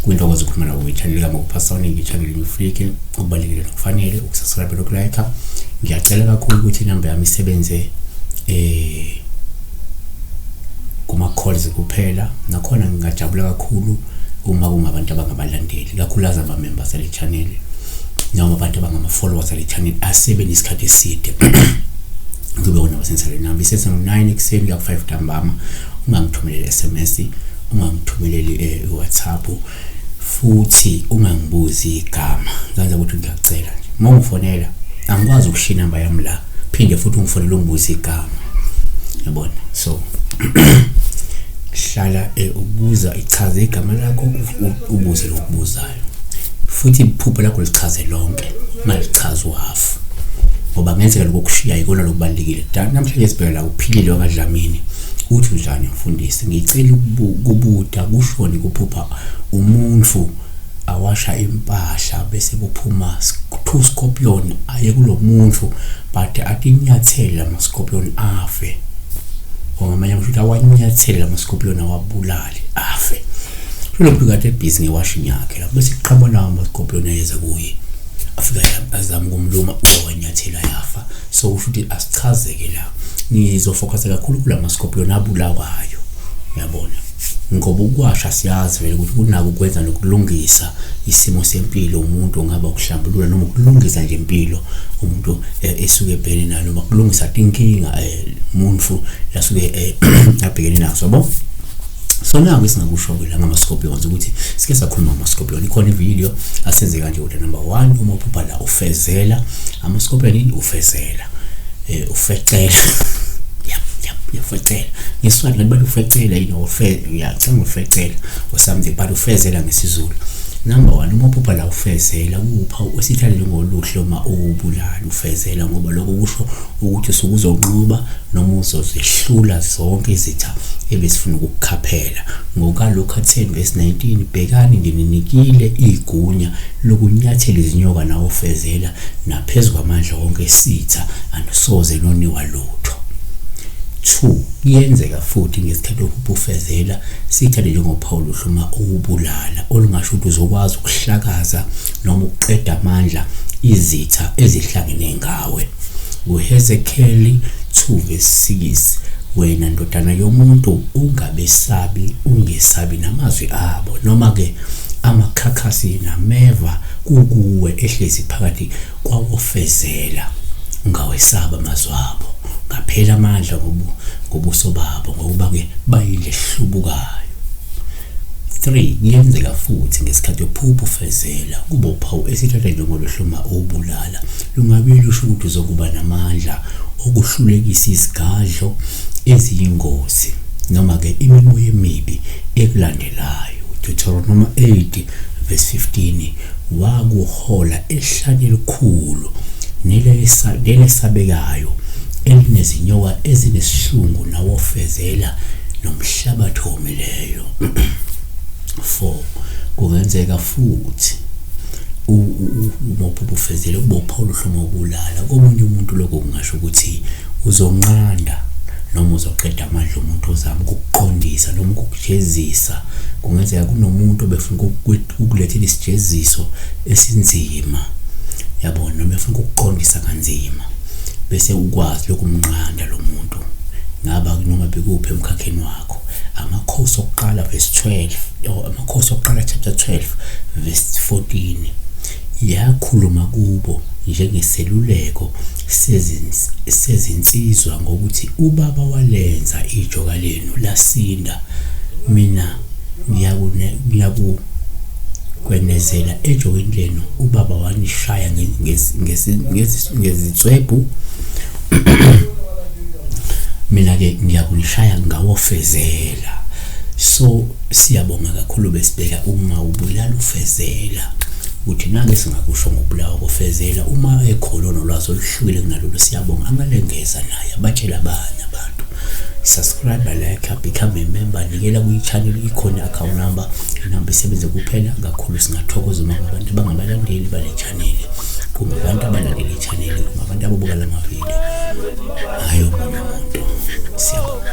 kwintokozo ukuphuma nawo ichaneli kama kupasoni ngichaneli ngifike okubalekile nokufanele ukusubscribe nokulike ngiyacela kakhulu ukuthi inamba yami isebenze eh kuma calls kuphela nakhona ngingajabula kakhulu uma kungabantu abangabalandeli kakhulu azaba members le channel noma abantu abangama-followers ale channel asebe nesikhathi eside kube wona wasensalweni nami isesengo-nine ekuseni kuya ku-five ntambama ungangithumeleli s m s ungangithumeleli um i-whatsapp futhi ungangibuzi igama kanza ukuthi ngiyacela nje uma ungifonela angikwazi ukushiya inamba yami la phinde futhi ungifonele ungibuze igama yabona so hlala eh, ubuza ichaze igama lakho ubuze lokubuzayo futhi iphupho lakho lichaze lonke ungalichazi uhafu ngoba ngenzeka lokho kushiya ikona lokubalulekile namhlanje sibheke la uphilile wakadlamini uthi njani mfundisi ngicela ukubuda kushoni kuphupha umuntu awasha impahla bese kuphuma two scorpion aye kulo muntu but atinyathele ama scorpion afe ngoba manje ngisho awanyathele ama scorpion awabulali afe Philompi kade ebhizi ngewashini yakhe lapho bese kuqhamuka nawo amaskopuloni ayeza kuye afika azama ukumluma owanyathela yafa so usho ukuthi asichazeke la ngizofokhasa kakhulu kula maskopuloni abulawayo uyabona ngoba ukwasha siyazi vele ukuthi kunako ukwenza nokulungisa isimo sempilo umuntu ongaba ukuhlambulula noma ukulungisa nje impilo umuntu eh, esuke ebhekene nayo noma kulungisa inkinga eh, umuntu lasuke eh, abhekene nazo yabo so naku esingakusho-ke la ngama-scorpions ukuthi sike sakhuluma ngama-scorpion ikhona ividiyo asenze kanje ukuthi number one uma uphupha la ufezela ama-scorpion yini ufezela um ufecela uyafecela ngesiswati kanti bathi ufecela yini uyacanga ufecela or something but ufezela ngesizulu number one uma uphupha la ufezela kuwupha osithalele ngoluhle uma uwubulala ufezela ngoba lokho kusho ukuthi usuke uzonqoba noma uzozehlula zonke izitha ebesifuna ukukukhaphela ngokalokhu atheni vesi 19 bhekani ngininikile igunya lokunyathela izinyoka nawofezela naphezu kwamandla wonke esitha anisoze noniwa lutho 2 kuyenzeka futhi ngesikhathi okubufezela sithathe njengophawu luhluma ukubulala olungasho ukuthi uzokwazi ukuhlakaza noma ukuqeda amandla izitha ezihlangene ngawo nawe nguhezekeli 2 verse 6 wena ndodana yomuntu ungabesabi ungesabi namazwi abo noma-ke amakhakhasi nameva kukuwe ehlezi phakathi kwawofezela ungawesaba amazwi abo ngaphela amandla ngobuso babo ngokuba-ke bayilehlubukayo 3 kuyenzeka futhi ngesikhathi uphupha ufezela kuba uphawu esithatha njengoluhloma obulala lungabe lusho ukuthi uzokuba namandla okuhlulekisa izigadlo eziyingozi noma-ke imimoya emibi ekulandelayo deuteronoma 8 verse 15 wakuhola elihlanye elikhulu nelesabekayo elinezinyoka ezinesihlungu nawofezela nomhlabathi omileyo 4 kungenzeka futhi umopho ubufezele ubopha oluhluma ubulala komunye umuntu lokho kungasho ukuthi uzonqanda noma uzoqeda amandla omuntu ozama ukukuqondisa noma ukukujezisa kungenzeka kunomuntu obefuna ukulethela isijeziso esinzima yabo noma efuna ukukuqondisa kanzima bese ukwazi lokumnqanda lo muntu ngaba noma bekuphi emkhakheni wakho amakhosi okuqala verse 12 or amakhosi okuqala chapter 12 verse 14 yakhuluma kubo njengeseluleko sezinsizwa ngokuthi ubaba walenza ijoka lenu lasinda mina ngiyakwenezela ejokeni lenu ubaba wanishaya ngezinswebhu mina-ke ngiyakunishaya ngawofezela so siyabonga kakhulu besibheka uma ubulala ufezela ukuthi nake singakusho ngokubulawa kofezela uma ekhona onolwazi oluhlukile kunalolu siyabonga angalengeza naye abatshele abanye abantu subscribe like become a member nikela kwichannel ikhona i-account number inamba isebenze kuphela kakhulu singathokoza uma ngabantu abangabalandeli bale channel kumbe abantu abalandele ichannel kumbe abantu ababuka la mavidiyo hayi omunye umuntu siyabonga